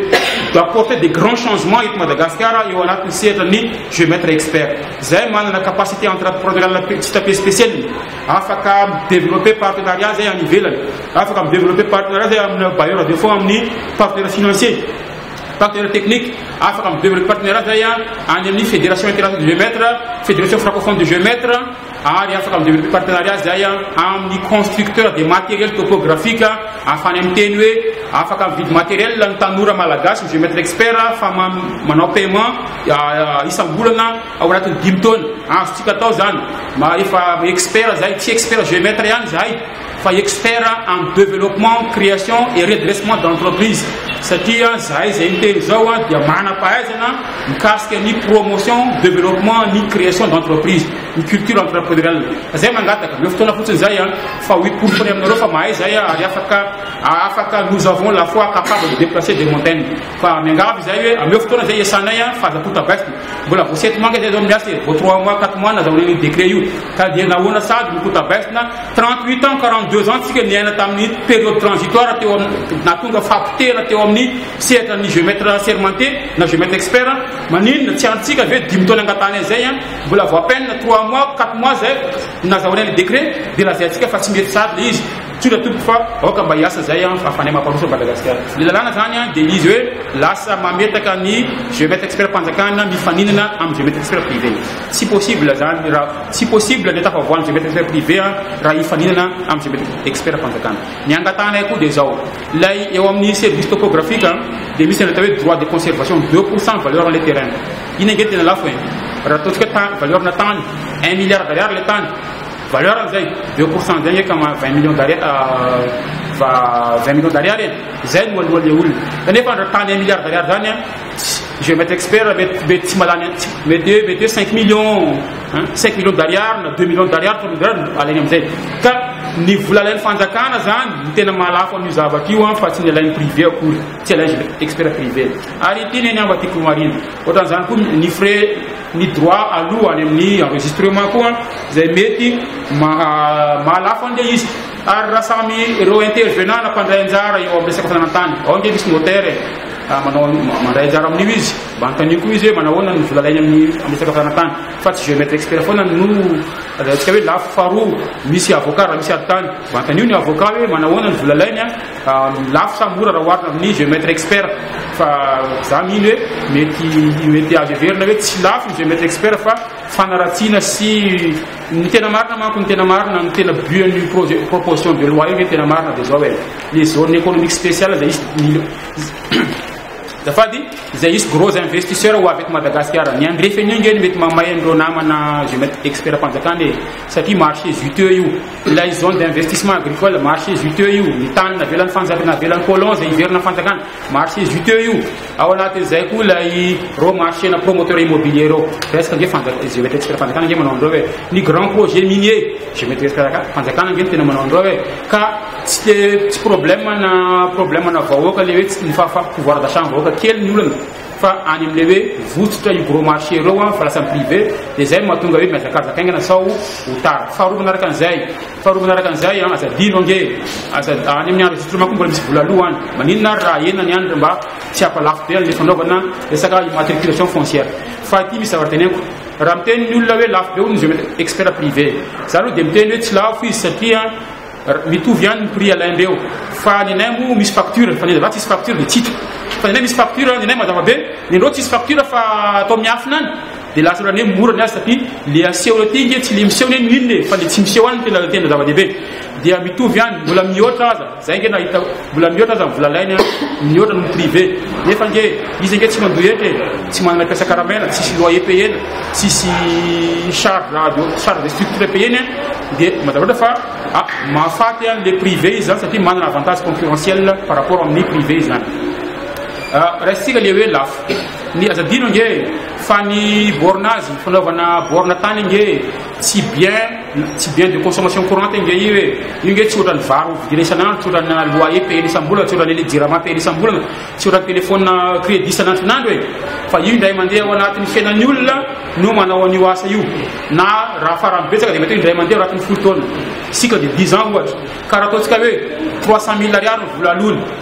d'apporter des grands changements eto Madagasikara eo anatin'ny sehatra ny jeu maître expert zahay manana capacité entrepreneuriale pe- tsy tapé spéciale afaka développer partenariat zahay any ivelany afaka développer partenariat zahay amina bailleur de fonds amin'ny partenaire financier Partenaire technique, afaka mibevy ireo partenaires zay a, any amin'ny Fédération Internationale de Jeux Maîtres, Fédération Francophone de Jeux Maîtres, ary afaka mibevy ireo partenariat zay a, amin'ny constructeur de matériel topographique ahafahany miteny hoe afaka mividy matériel ny tanora malagasy, ny Jeux Maîtres Experts, fa ma- manao paiement ah, isam-bolana ao anatin'ny dimy taona. Azontsika atao zany. Ma- Efa expert zay, tsy expert Jeux Maîtres ihany zahay. fa expert am developpement, creation et redressement d'entreprise satria zahay izay miteny izao dia manam-pahaizana mikasika ny promotion, developpement ny creation d'entreprise, ny culture entrepreneuriale. Fa zay mangataka, omeo fotoana fotsiny zay an, fa ho iporofony aminareo fa mahay zay an, ary afaka afaka nous avons la foi capable de deplacer des montagnes. Fa miangavy izahay hoe ameo fotoana zay iasanay an, fa aza tonta baisina. Mbola vao sept mois ange zay zao no miasa e, vao trois mois, quatre mois nazahoana an'io décret io, ka dia nahoana sady no tonta baisina, Trente huit ans, quarante deux ans tsika niaina tamin'ny période transitoire teo amin'ny nahatonga fahapotehana teo amin'ny sehatra ny géomètre assermenté na géomètre expert maninona tsy antsika ve dimy taona angatahany an'izay an mbola vao à peine trois mois quatre mois zay nazahoana ilay décret dia lazaintsika fa tsy mety sady ilay izy tsotra tompoko fa aoka mba hiasa izay an fa fanay mamparoso Madagasikara ny lalàna izany an dia izy hoe lasa mametaka ny géomètre expert mpanjakana mifaninana amin'ny géomètre expert privé Tsy possible zany ra tsy possible le tafavoan'ny Jeunbet expert privé a raha hifaninana amin'ny Jeunbet expert fanjakana. Ny angatahanay koa dia zao, lay eo amin'ny service topographique a dia misy ny atao hoe droit de conservation deux pour cent valeur-n'ilay terrain. Iny ange tena lafo e! Raha ataontsika ta valeur-na tany, un milliard d'ariary le tany, valeur-ny zay, deux pour cent zay ange ka ma vingt millions d'ari a va vingt millions d'ariary e! Zay no aloha le olona. Kanefa ndra tany un milliard d'ariary zany a, Je vais expert mety mety tsy malany mety hoe mety hoe 5 millions hein 5 millions d'ariary na 2 millions d'ariary 3 millions d'ariary no alainy amin'izay ka ny vola alain'ny fanjakana zany ny tena mahalafo an'io zavatra io an fa tsy ny alain'ny privé akory tsy alain'ny je vais expert privé ary ity ny anamba tiako marina ohatran'izany koa ny frais ny droit aloha any amin'ny enregistrement koa izay mety maha mahalafo an'ilay izy ary raha samy ireo intervenant na mpandray anjara eo amin'ny resaka fananantany ao ange misy notaire Manao mandray anjara amin'io izy. Mba anontanio koa izy hoe manao ahoana ny vola alainy amin'ny amin'ny resaka fizaran-tany. Fa tsy géomètre expert foana no azahoantsika hoe lafo. Faharoa, misy avocat raha misy ady tany. Mba anontanio ny avocat hoe manao ahoana ny vola alainy, lafo sa mora raha oharina amin'ny géomètre expert. Fa za mino hoe mety mety azo heverina hoe tsy lafo ny géomètre expert fa fanaratsiana sy ny tena marina manko ny tena marina ny tena but an'io projet proposition de loi io ve ny tena marina dia zao e. les zones économiques spéciales izay hisy mil- zafady izay hisy gros investisseurs ho avy eto Madagasikara ny andrefen'io nge no mety mamay an'ireo namana je mety expert-mpanjakana e satria marché juteux io ilay zone d'investissement agricole marché juteux io ny tany navelan'ny fanjak- navelan'ny colon izay hiverina ny fanjakana marché juteux io ao anatin'izay koa ilay reo marché-na promoteur immobilier reo presque nge fanjak- je mety expert-mpanjakana nge manao an'ireo hoe ny grand projet minier je mety expert-mpanjakana nge no tena manao an'ireo hoe ka Tsy de tsy problème ana problème ana vahoaka le hoe tsy ny fahafaham pouvoir d'achat ny vahoaka kely ny olana fa any amle hoe votsotra io gros marché ireo an fa lasa privé de zay mahatonga hoe miazakazaka haingana sao ho tara faharoa manaraka an'izay faharoa manaraka an'izay an aza adino ange aza any amin'ny andro zotra manko mbola misy vola aloha any maninona ary raha enany any mba tsy hampalafo be an'le fanaovana resaka immatriculation foncière fa aty misy zavatra teneniko raha miteny ny olona hoe lafo be hono ny expert privé za aloha de miteny hoe tsy lafo izy satria Mitovy ihany ny prix alain reo fa ny anay moa misy facture fa ny za tsisy facture de tsitra fa ny anay misy facture ny anay mazava be ny anao tsisy facture fa atao miafina any de lasa olan'ny hoe mora ny azy satria le aseho aty nge tsy le miseho ny mine fa le tsy miseho any tena tena zava-dehibe dia mitovy ihany mbola mihoatra aza zay nge nahitako Mbola mihoatra aza ny vola alainy a! Mihoatra noho ny privé! Nefa ange izy ange tsy mandoa hetra e! Tsy manana mpiasa karamela, tsisy loyer payena, tsisy charge charge de structure payeny a! Dia mba tafatra fa a! mahafaty an le privé izy zany satria manana avantage concurrentiel par rapport amin'ny privé izy zany. A! Raisintsika le hoe lafo. Ny aza adino ange fa ny borne azy, fanaovana borne tany ange, Tsy bien tsy bien de consommation courante nge io e! Io nge tsy ohatran'ny vary vidina isan'andro, tsy ohatran'ny loyer payena isam-bolana, tsy ohatran'ny jirama payena isam-bolana, tsy ohatran'ny telephone credit isan'andron'andro e! Fa io indray mandeha ao anatin'ny fiainan'ny olona no manao an'io asa io. Na raha farany betsaka dia mety hoe indray mandeha ao anatin'ny folo taona, cycle de dix ans ohatra. Ka raha ataontsika hoe trois cent mille ariary ny vola aloany,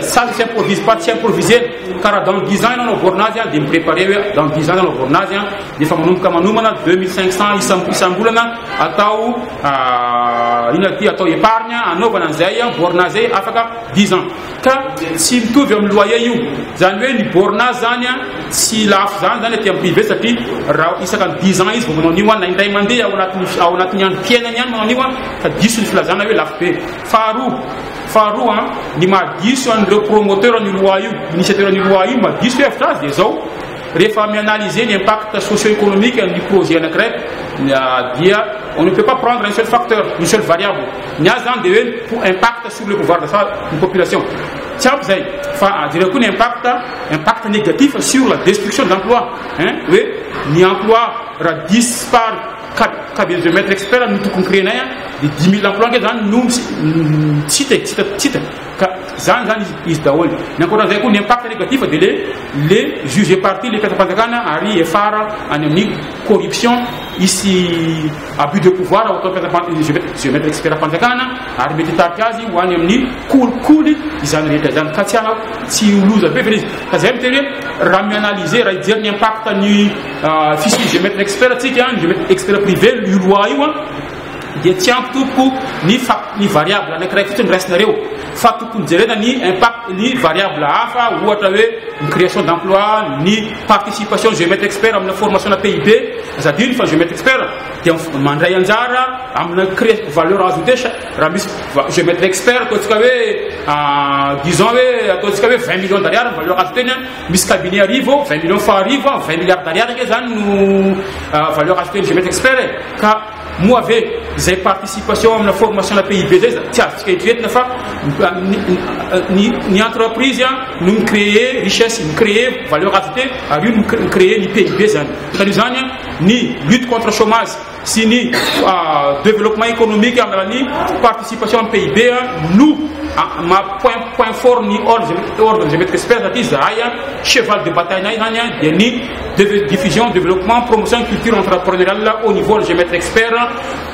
Sady tsy improvise pas tsy improviser ka raha dans dix ans ianao navoarina azy dia mi-preparer hoe dans dix ans ianao navoarina azy dia efa manomboka manomana deux mille cinq cents isam isam-bolana atao inona ity atao épargne anaovana an'izay borne azy zay afaka dix ans ka tsy mitovy amin'ny loyer io zany hoe ny borne azy zany a tsy lafo zany zany aty amin'ny privé satria raha isaka ny dix ans izy vao manao an'io a na indray mandeha ao anatin'ny ao anatin'ny androm-piainany ihany manao an'io a fa diso ny filazana hoe lafo be Faharoa, faharoa an, ny maha diso an'ireo promoteur an'io loi io, initiateur an'io loi io, maha diso hevitra azy dia izao, rehefa mi-analyser ny impact socio-economique an'ny projet anankiray dia on ne peut pas prendre un seul facteur, une seule variable. Ny azy zany dia hoe impact sur le pouvoir d'achat ny population. Tsy ampy izay fa jereo koa ny impact, impact négatif sur la destruction d'emploi, hein, hoe ny emploi raha dispar Cas de geomètre expert no tokony créer nay a, de dimy mille emploi nge zany no tsy hita e, tsy hita, tsy hita ka zany zany izy daholo. Ny ankoatran'izay koa ny impact négatif de le le juge parti le mpiasam-panjakana ary hiafara any amin'ny corruption hisy abus de pouvoir ao ataon'ny mpiasam-panjakana geomètre expert fanjakana ary mety hitarika azy ho any amin'ny kolikoly izany rehetra izany ka tsy tsy ho loza be ve le izy ka zay miteny hoe raha mi-analyser raha hijery ny impact ny Fisian'ny geomètre expert antsika, ny geomètre expert privé, io loi io an, dia tsy ampy tompoko ny fac- ny variable anankiray fotsiny raisinareo fa tokony jerena ny impact ny variable hafa ohatra hoe ny création d'emploi, ny participation geomètre expert amina formation-na PIB, aza adino fa ny geomètre expert dia mif- mandray anjara amina cré- valeur ajoutée cha- raha misy va- geomètre expert ataontsika hoe disons hoe ataontsika hoe vingt millions d'ariary ny valeur ajoutée-ny an, Misy cabinet arivo, vingt millions fois arivo an, vingt milliards d'ariary ange zany no euh, valeur ajoutée ny Gemet Expert e. Ka moa ve izay participation amina formation na PIB zay za tsy azontsika eritreretina fa ny entreprise an no mi-créer richesse, mi-créer valeur ajoutée ary io no mi-créer ny PIB zany. Ka izany ny lutte contre chômage sy ny développement économique amin'ny alalan'ny participation amin'ny PIB no maha point point fort ny ordre ordre géométrique supérieur satria izahay cheval de bataille-nay izany dia ny diffusion développement promotion ny culture entrepreneuriale au niveau ny géomètre expert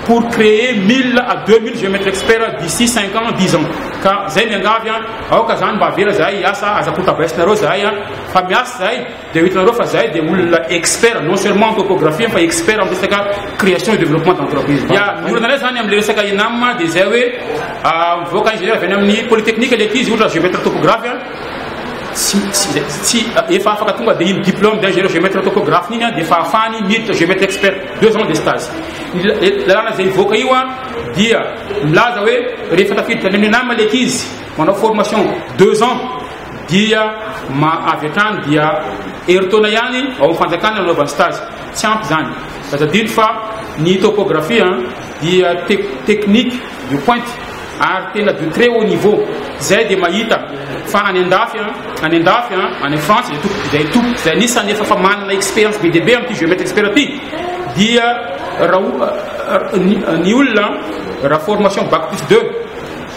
pour créer 1000 à 2000 géomètre expert d'ici 5 ans 10 ans ka izay miangavy aoka izany mba avela izahay hiasa aza kotabaissinareo izahay fa miasa izahay Dia ho hitanareo fa zahay dia olona expert non seulement en topographie fa expert amin'ny resaka création et développement d'entreprise. Dia ny olana indray izany amin'ilay resaka ENAM dia izay hoe ah, mivoaka ingénieur avy any amin'ny polytechnique ilay ankizy ohatra géomètre topographe ah. tsy tsy tsy efa afaka tonga dia iny diplôme d'ingénieur géomètre topographe iny ah, dia efa afahany miditra géomètre expert deux ans de stage. Ny lalàna izay hivoaka io ah, dia milaza hoe rehefa tafiditra any amin'ny ENAM ilay ankizy manao formation deux ans Dia ma avy hatrany dia herintaona ihany ao amin'ny fanjakana no anaovany stage. Tsy ampy izany. Ka tadidiko fa ny topografia dia tec technique de pointe ary tena de très haut niveau. Izay dia mahita fa any andafy an, any andafy an, any Frantsa izay tompoko, izay tompoko, izay anisan'ny efa efa manana expérience be dia be amin'ity géomètre expert ity dia raha o ny ny olona raha formation bac plus deux.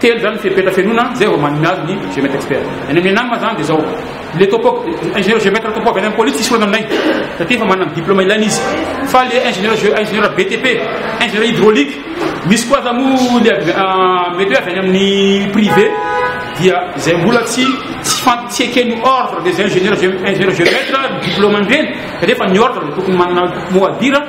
Telo zany ny fepetra fenoina zay vao manome azy ny géomètre expert. Any amin'ny ENAM zany dia zao, le topo, ingénieur géomètre topo avy any amin'ny police tsisy olana aminay satria efa manana ny diplôme ilaina izy. Fa le ingénieur gé- ingénieur BTP, ingénieur hydraulique, misy koa aza moa le avy- ah, mety hoe avy any amin'ny privé dia zay mbola tsy tsy fan- tsy eken'ny ordre des ingénieurs gé- ingénieurs géomètres ny diplôme an'ireny, kanefa ny ordre dia tokony manana mot à dire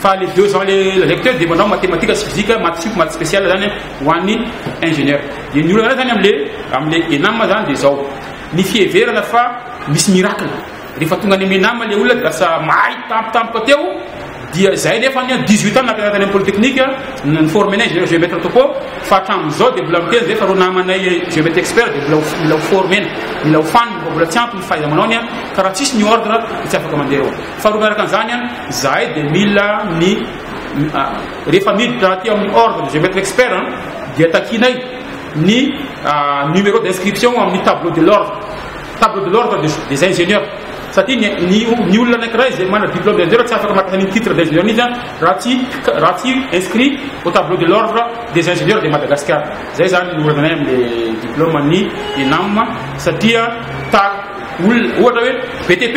Fa le deux ans le lazaiko teo de manao matematika sy physique maths sup maths special zany ho an'ny ingénieur de ny olana anay zany amle amle enam zany de zao ny fiheverana fa misy miracle rehefa tonga any am enam le olona de lasa mahay tampotampoka teo dia zay nefa ny dix huit ans nampianatra any am polytechnique ny forme anay ingénieur géomètre topo fa hatramin'izao de mbola miteny zay fa reo namanay géomètre expert de mbola mila ho formena mila ho fanina fa mbola tsy ampy ny fahaiza-manaony ka raha tsisy ny ordre de tsy afaka mandeha eo Faharoa miaraka an'izany, izahay dia mila ny rehefa miditra aty amin'ny ordre de géomètre expert dia takianay ny numéro d'inscription amin'ny tableau de l'ordre tableau de l'ordre des ingénieurs satria ny ny olona anankiray izay manana diplôme d'ingénieur tsy afaka mahatonga ny titre d'ingénieur mihitsy raha tsy raha tsy inscrit au tableau de l'ordre des ingénieurs de Madagascar izay zany ny olana anay amin'ny diplôme ny ENAM satria ta olona ohatra hoe BTP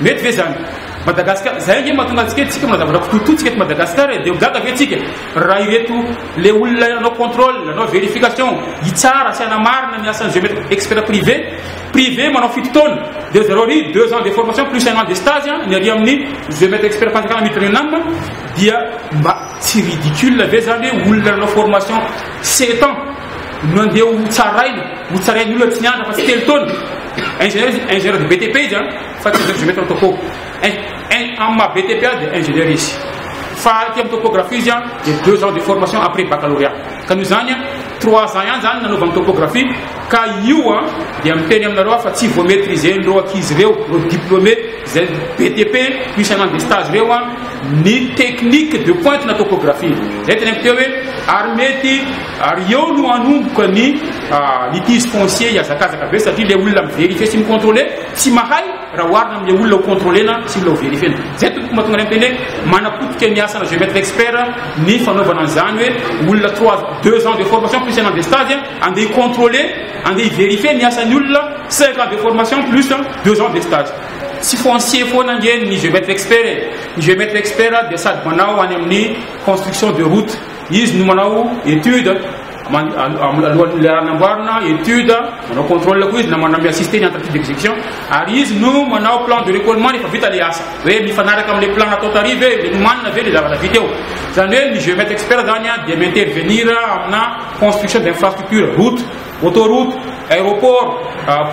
Mety ve zany? Madagascar zay ange mahatonga antsika tsika manao zavatra kitotoa tsika eto Madagascar e de ho gaga ve tsika raha ireto le olona hanao contrôle hanao vérification hitsara sy hanamarina ny asan'ny géomètre expert privé privé manao fito taona de ry zareo ry deux ans de formation plus un an de stage a ny ary amin'ny géomètre expert fanjakana maitre de nam dia mba tsy ridicule ve zany hoe olona nanao formation sept ans no andeha ho tsaraina, ho tsarain'ny olona tsy nianatra fa tsy telo taona. Ingénieur, ingénieur de BTP izy an, fa tsy ingénieur géomètre topo. Amin'ny maha BTP azy dia ingénieur izy. Fa aty amin'ny topographie izy an, dia deux ans de formation après baccalauréat. Ka noho izany an, trois ans ihany izany nanaovany topographie, ka io an, dia miteny aminareo aho fa tsy vao maîtriser an'ireo ankizy ireo, ireo diplômé izay BTP no isan'andro dia stage ireo an, ny technique de pointe na topographie. Izay tena mety hoe, ary mety Ary eo no hanomboka ny litige foncier hihazakazaka be satria ilay olona mi-verifier sy mi-controler tsy mahay raha oharina amin'ilay olona ho controler-na sy mila ho verifier-na. Izay tompoko mahatonga anay miteny hoe manapotika ny asana géomètre expert ny fanaovana an'izany hoe olona trois deux ans de formation plus un an de stage andeha hi-controler, andeha hi-verifier ny asan'ny olona cinq ans de formation plus deux ans de stage. Tsy foncier foana ange ny géomètre expert e! Ny géomètre expert dia sady manao any amin'ny construction de route, Izy no manao étude alohan'ny le hanamboarana étude, manao contrôle koa izy na manao mi-assister ny entreprise d'exécution ary izy no manao plan de récollement rehefa vita le asa. Hoe mifanaraka amin'le plan natao tary ve, le nomanina ve le zavatra vita eo. Zany hoe ny géomètre expert zany a dia mi-intervenir amina construction d'infrastructure, route, autoroute, aéroport,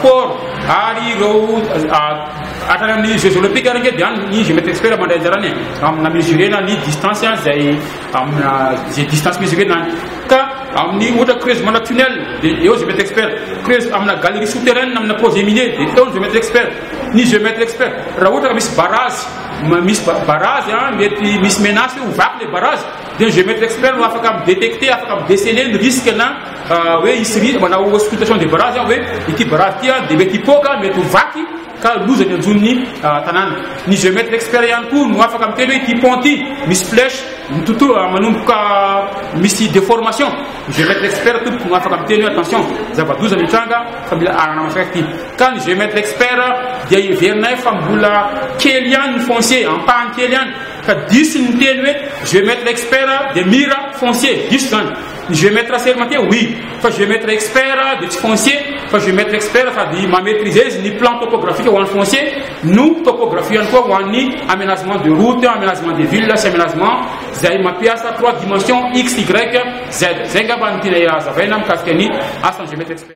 port ary ireo hatrany amin'ny jeux olympiques ary nge dia any ny géomètre expert mandray anjarany e, amina mesurer-na ny distance zay. amina izay distance misy ve nany ka amin'ny ohatra creuse mana tunnel de eo géomètre expert creuse amina galerie souterraine amina projet minier de eo ny géomètre expert ny géomètre expert raha ohatra ka misy barazy misy barazy a mety misy menace hoe ho vaky le barazy de ny géomètre expert no afaka midétecter afaka midéceler ny risque na hoe hisy risque manao auscultation de barazy hoe ity barazy ity a de mety hipoaka mety ho vaky ka loza ny anjon'ny tanàna. Ny géomètre expert ihany koa no afaka miteny hoe ity pont ity misy flèche mitotoa manomboka misy déformation, ny géomètre expert tompoko no afaka miteny hoe attention zava-doza mitranga fa mila arahana masaka ity, ka ny géomètre expert dia heverinay fa mbola kely ihany ny foncier, ampahany kely ihany, ka diso ny miteny hoe géomètre expert dia mira foncier, diso izany. Ny géomètre assermenté oui, fa géomètre expert dia tsy foncier fa géomètre expert sady ma maîtriser izy ny plan topographique ho an'ny foncier no topographie ihany koa ho an'ny aménagement de route, aménagement des villes sy aménagement izay mampiasa trois dimensions X, Y, Z. Izay angamba no tianay hazavaina mikasika ny asan'ny géomètre expert.